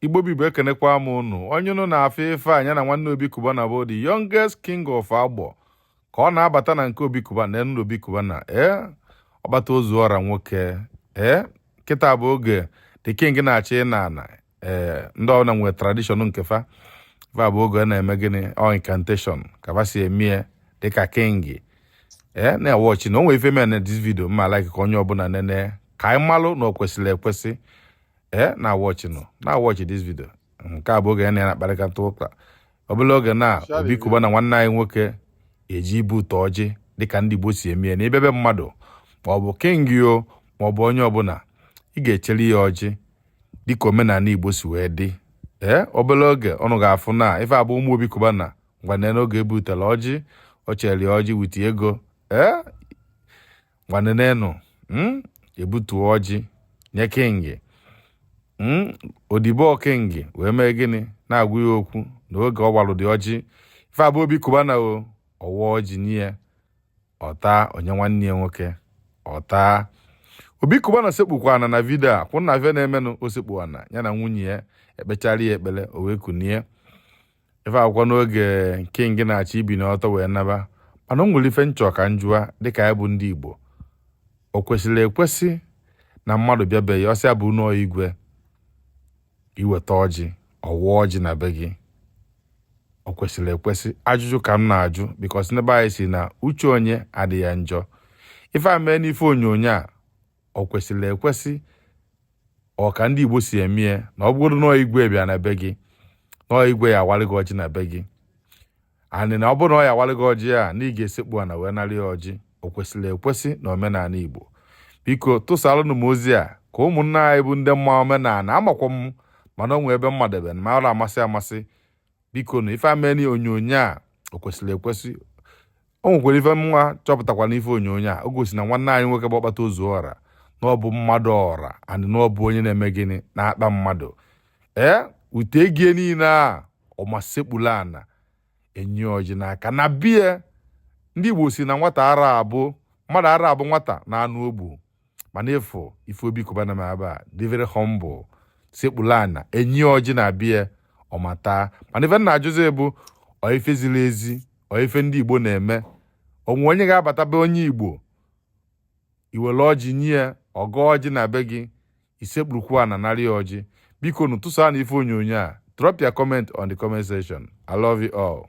Igbo bụ Igbo ekenekwa m ụnụ onye ụnụ na-afụ ife anya na nwanne Obi Cubana bụ the youngest king of Agbor ka ọ na-abata na nke Obi Cubana na enu Obi Cubana ee eh? ọkpata ozu ọra nwoke ee eh? kịta bụ oge the king na-achọ ịnọ ana ee eh, ndị ọbụla nwere tradition nke fa va bụ oge na-eme gịnị ọ oh, incantation ka va si emie dịka king ee eh, na watch na o nwere ife mee na this video m ma like ka onye ọbụla nene ka anyị malụ na o kwesịrị ekwesị ee eh, na watch nụ na watch this video nke a bụ oge ya na ya na-akparịkata ụka obere oge na Obi Cubana nwanne anyị nwoke eje ibute ọjị dịka ndị Igbo si eme ya na ị bịa be mmadụ ma ọ bụ king o ma ọ bụ onye ọbụla ị ga-echere ya ọjị dịka omenala Igbo si wee dị ee eh, obere oge ụnụ ga-afụ na ife a bụ umm Obi Cubana ngwa nee n'oge ebutela ọjị o chere ọjị with ego ee eh, ngwa nenenụ hmm? ebutuo ọjị nye king hmm? odibo king wee mee gịnị na-agwa ya okwu na oge ọ walụ the ọjị ife a bụ Obi Cubana o ọ wa ọjị nye ya ọ ta o nye nwanne ya nwoke ọ ta Obi Cubana sekpukwa ana na video a ka ụnụ na-afụ ife na-emenụ o sekpuo ana ya na nwunye ya e kpechara ya ekpere o wee kunie ife a bụkwa n'oge king na-achọ ibini ọtọ wee naba mana o nwere ife m chọ ka m jụa dịka anyị bụ ndị igbo o kwesịrị ekwesị na mmadụ bịa be gị ọ sị ya bụ na ọ igwe ị weta ọjị ọ wa ọjị na be gị o kwesịrị ekwesị ajụjụ ka m na-ajụ because na be anyị sị na uche onye adịghị ya njọ ife a mee n'ife onyonyo a o kwesịrị ekwesị ọ ka ndị Igbo si eme ya na ọ bụrụ na igwe bịa na be gị na ọ igwe ya-awalị gị ọjị na be gị and na ọ bụrụ na ọ ya-awalị gị ọjị a na ị ga-esekpu ana wee narị ya ọjị o kwesịrị ekwesị na omenala Igbo biko tụsalụnụ m ozi a ka ụmụnna anyị bụ ndị ma omenala amakwa m mana o nwee ebe m madebe ma ara amasị amasị biko na ife a mee n'onyonyo a o kwesịrị ekwesị o nwekwara ife m nwa chọpụtakwa n'ife onyonyo a o gosi na nwanne anyị nwoke bụ ọkpata ozu ọra na ọ bụ mmadụ ọra and na ọ bụ onye na-eme gịnị na-akpa mmadụ ee with ego ya niile a ọ ma sekpulu ana e nye ya ọjị n'aka na be ya ndị Igbo sị na nwata ara abụ mmadụ ara abụ nwata na anụ o gbu mana ị fụ ife Obi Cubana mee eba dị very humble sekpulu ana e nye ya ọjị na be ya ọ ma ta mana ife m na-ajụzi bụ ọ ife ziri ezi ọ ife ndị Igbo na-eme o nwe onye ga-abata be onye Igbo i were ọjị nye ya ọ gọ ọjị na be gị i sekpurukwu ana narị ya ọjị bikonụ tụsa na ife onyonyo a drop your comment on the comment section i love you all